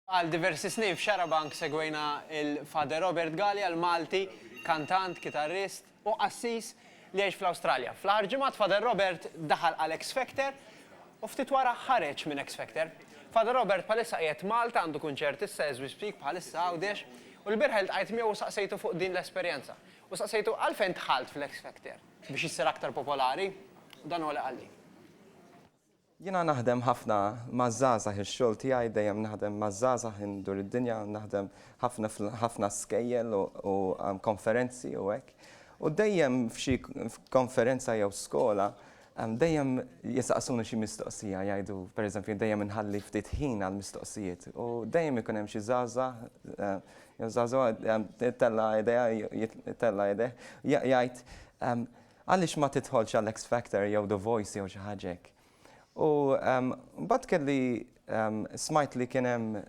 Għal diversi snin f'Xarabank segwejna lil Father Robert Galea, l-Malti, kantant, kitarrist, u qassis li jgħix fl-Awstralja. Fl-aħħar ġimgħat Father Robert daħal għal X Factor u ftit wara ħareġ minn X Factor. Father Robert bħalissa qiegħed Malta, għandu kunċert issa as we speak bħalissa Għawdex, u l-bieraħ iltqajt miegħu u saqsejtu fuq din l-esperjenza. U saqsejtu għalfejn dħalt fl-X Factor? Biex issir aktar popolari? U dan huwa li qalli. Jiena naħdem ħafna maż-żgħażagħ, ix-xogħol tiegħi dejjem naħdem maż-żgħażagħ indur id-dinja, naħdem ħafna f'ħafna skejjel u konferenzi u hekk. U dejjem f'xi konferenza jew skola dejjem jistaqsuni xi mistoqsija, jgħidu pereżempju dejjem inħalli ftit ħin għall-mistoqsijiet u dejjem ikun hemm xi żgħażagħ jew żagħżugħa itella' idejha itella' idejh jgħid Għaliex ma tidħolx għal X Factor jew The Voice jew xi ħaġa hekk. U mbagħad kelli smajt li kien hemm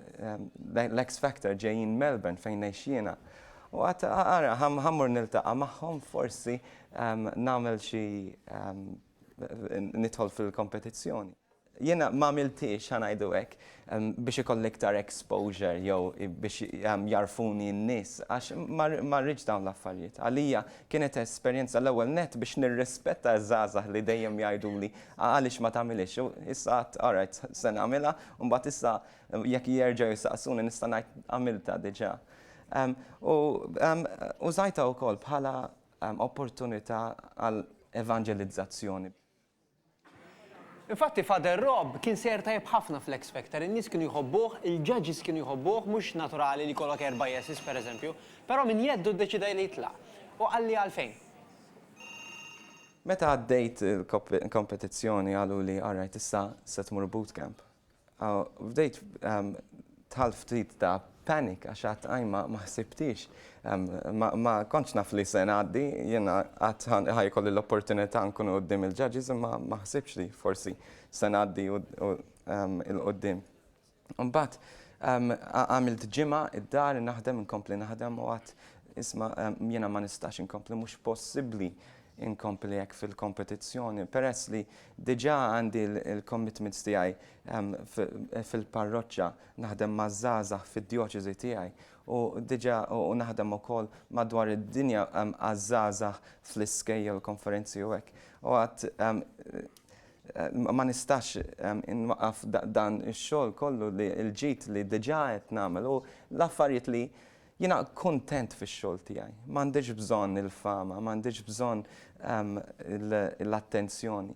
l-X Factor ġejjin Melbourne fejn ngħix jiena. U għadt ara ħa mmur niltaqa' magħhom forsi nagħmel xi nidħol fil-kompetizzjoni. Jiena ma għamilthiex, ħa ngħidu hekk, biex ikolli iktar exposure jew biex jagħrfuni n-nies għax ma rridx dawn l-affarijiet. Għalija kienet esperjenza l-ewwel nett biex nirrispetta ż-żgħażagħ li dejjem jgħiduli għaliex ma tagħmilhiex u issa għadt alright se nagħmilha u mbagħad issa jekk jerġgħu jsaqsuni nista' ngħid għamiltha diġà. U użajtha wkoll bħala opportunità għal evanġelizzazzjoni. Infatti Father Rob kien sejjer tajjeb ħafna fl-X Factor, in-nies kienu jħobbuh, il-judges kienu jħobbuh, mhux naturali li jkollok erba' yeses pereżempju, però minn jeddu ddeċidej li jitlaq. U qalli għalfejn. Meta għaddejt il-kompetizzjoni qaluli alright issa se tmur bootcamp. Bdejt dħalt ftit ta' panic għax qatt qatt ma ħsibtix. Ma kontx naf li se ngħaddi, jiena qatt ħa jkolli l-opportunità nkun quddiem il-judges imma ma ħsibtx li forsi se ngħaddi 'l quddiem. Imbagħad għamilt ġimgħa id-dar innaħdem inkompli naħdem u għedt isma' jiena ma nistax inkompli mhux possibbli inkompli hekk fil-kompetizzjoni peress li diġà għandi l-commitments tiegħi fil-parroċċa, naħdem maż-żgħażagħ fid-djoċesi tiegħi u diġà u naħdem ukoll madwar id-dinja għaż-żgħażagħ fl-iskejjel, konferenzi u hekk. U għad ma nistax inwaqqaf dan ix-xogħol kollu li l-ġid li diġà qed nagħmel u l-affarijiet li Jiena kuntent fix-xogħol tiegħi. M'għandix bżonn il-fama, m'għandix bżonn l-attenzjoni.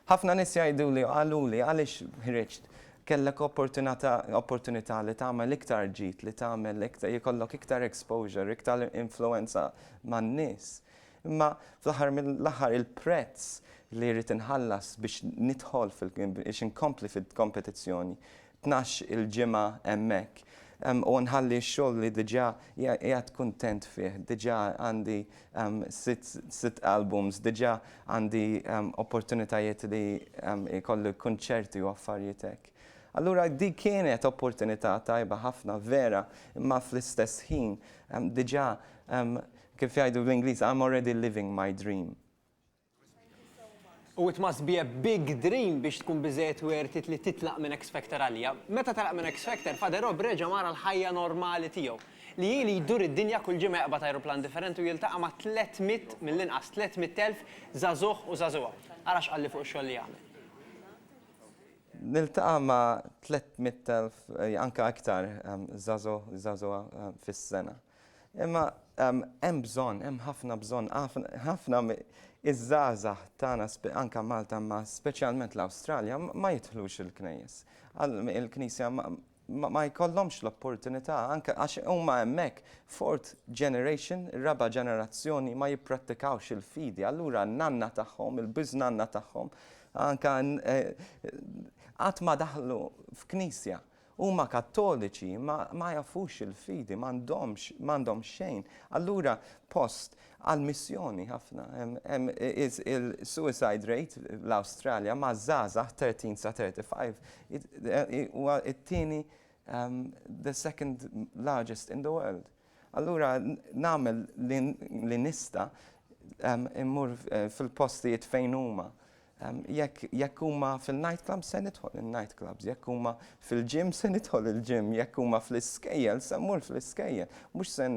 Ħafna nies jgħiduli u qaluli, għaliex ħriġt? Kellek opportunità li tagħmel iktar ġid, li tagħmel iktar, jkollok iktar exposure, iktar influwenza man-nies. Imma fl-aħħar mill-aħħar il-prezz li rrid inħallas biex nidħol fil-, biex inkompli fil-kompetizzjoni tnax il-ġimgħa hemmhekk u nħalli x-xogħol li diġà qiegħed kuntent fih, diġà għandi sitt albums, diġà għandi opportunitajiet li jkolli kunċerti u affarijiet hekk. Allura dik kienet opportunità tajba ħafna vera, imma fl-istess ħin diġà kif jgħidu bl-Ingliż I'm already living my dream. U it must be a big dream biex tkun biżżejjed worth it li titlaq minn X Factor għalija. Meta telaq minn X Factor, Father Rob reġa' mar għall-ħajja normali tiegħu, li hi li jdur id-dinja kull ġimgħa jaqbad ajruplan differenti u jiltaqa' ma' tliet mitt, mill-inqas tliet mitt elf, żagħżugħ u żagħżugħa. Ara x'qalli fuq ix-xogħol li jagħmel. Niltaqa' ma' tliet mitt elf, anke iktar, żagħżugħ, żagħżugħa fis-sena. Imma hemm bżonn, hemm ħafna bżonn, ħafna iż-żgħażagħ tagħna anke Malta ma speċjalment l-Awstralja ma jidħlux il-knejjes. Il-Knisja ma jkollhomx l-opportunità anke għax huma hemmhekk fourth generation, raba' ġenerazzjoni ma jipprattikawx il-fidi. Allura n-nanna tagħhom, il-biżnanna tagħhom anke qatt ma daħlu f'knisja. Huma kattoliċi imma ma jafux il-fidi, m'għandhomx, m'għandhom xejn. Allura post għal missjoni ħafna. Hemm il-suicide rate l-Awstralja ma' żgħażagħ 13 sa 35 huwa t-tieni the second largest in the world. Allura nagħmel li nista' immur fil-postijiet fejn huma. Jekk huma fil-night club se nidħol in-night clubs, jekk huma fil-gym se nidħol il-gym, jekk huma fl-iskejjel se mmur fl-iskejjel. Mhux se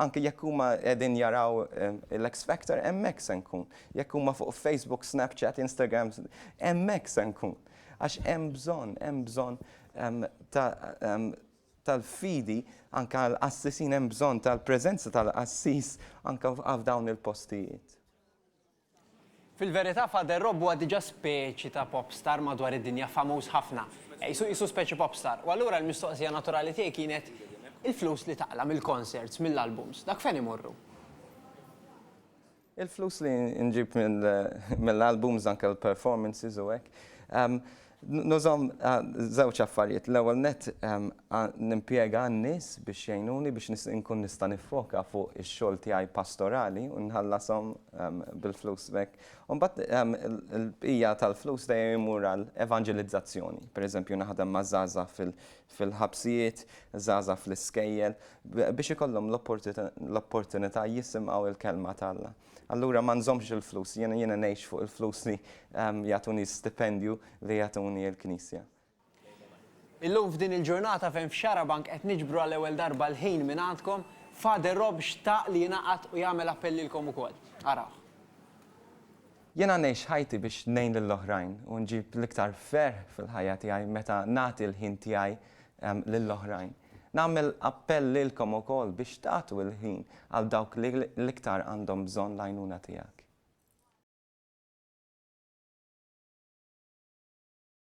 anke jekk huma qegħdin jaraw l-X Factor hemmhekk se nkun. Jekk huma fuq Facebook, Snapchat, Instagram, hemmhekk se nkun. Għax hemm bżonn, hemm bżonn ta' tal-fidi anke għall-qassisin hemm bżonn tal-preżenza tal-qassis anke f'dawn il-postijiet. Fil-verità Father Rob huwa diġà speċi ta' pop star madwar id-dinja famuż ħafna. Qisu qisu speċi pop star. U allura l-mistoqsija naturali tiegħi kienet, il-flus li taqla' mill-concerts, mill-albums, dak fejn imorru? Il-flus li nġib mill-albums anke l-performances u hekk, nużahom għal żewġ affarijiet. L-ewwel nett nimpjega n-nies biex jgħinuni biex inkun nista' niffoka fuq ix-xogħol tiegħi pastorali u nħallashom bil-flus b'hekk. U mbagħad il-bqija tal-flus dejjem imur għal evanġelizzazzjoni. Per eżempju naħdem maż-żgħażagħ fil-ħabsijiet, żgħażagħ fl-iskejjel, biex ikollhom l-opportunità jisimgħu l-kelma t'Alla. Allura ma nżommx il-flus, jiena jiena ngħix fuq il-flus li jagħtuni stipendju li jagħtuni l-Knisja. Illum f'din il-ġurnata fejn f'Xarabank qed niġbru għall-ewwel darba l-ħin mingħandkom, Father Rob xtaq li jingħaqad u jagħmel appell lilkom ukoll. Arawh. Jiena ngħix ħajti biex ngħin lill-oħrajn u nġib l-iktar ferħ fil-ħajja tiegħi meta nagħti l-ħin tiegħi lill-oħrajn. Nagħmel appell lilkom ukoll biex tagħtu l-ħin għal dawk li l-iktar għandhom bżonn l-għajnuna tiegħek.